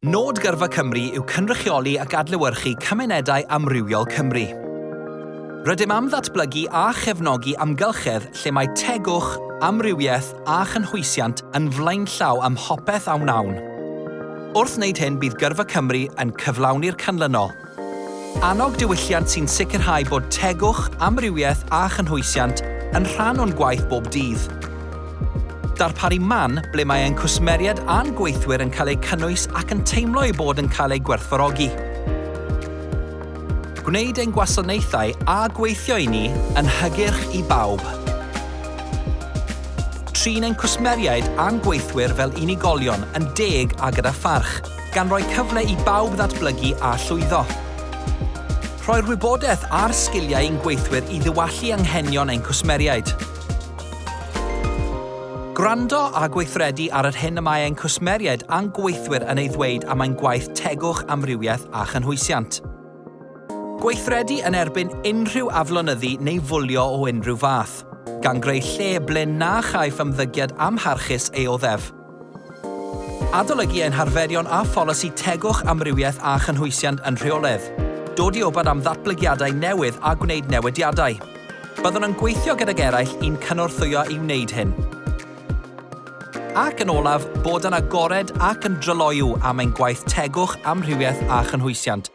Nod Gyrfa Cymru yw cynrychioli ac adlewyrchu cymunedau amrywiol Cymru. Rydym am ddatblygu a chefnogi amgylchedd lle mae tegwch, amrywiaeth a chynhwysiant yn flaenllaw ym mhopeth a wnawn. Wrth wneud hyn bydd Gyrfa Cymru yn cyflawni'r canlynol. Annog diwylliant sy'n sicrhau bod tegwch, amrywiaeth a chynhwysiant yn rhan o'n gwaith bob dydd. Darparu man ble mae ein cwsmeriaid a'n gweithwyr yn cael eu cynnwys ac yn teimlo eu bod yn cael eu gwerthfawrogi. Gwneud ein gwasanaethau a gweithio i ni yn hygyrch i bawb. Trin ein cwsmeriaid a'n gweithwyr fel unigolion, yn deg a gyda pharch. gan roi cyfle i bawb ddatblygu a llwyddo. Rhoi'r wybodaeth a'r sgiliau i'n gweithwyr i ddiwallu anghenion ein cwsmeriaid. Gwrando a gweithredu ar yr hyn y mae ein cwsmeriaid a'n gweithwyr yn ei ddweud am ein gwaith tegwch, amrywiaeth a chynhwysiant. Gweithredu yn erbyn unrhyw aflonyddu neu fwlio o unrhyw fath, gan greu lle ble na chaiff ymddygiad amharchus ei oddef. Adolygu ein harferion a pholisi tegwch amrywiaeth a chynhwysiant yn rheoledd, dod i wybod am ddatblygiadau newydd a gwneud newidiadau. Byddwn yn gweithio gydag eraill i'n cynorthwyo i wneud hyn. Ac yn olaf, bod yn agored ac yn dryloyw am ein gwaith tegwch amrywiaeth a chynhwysiant.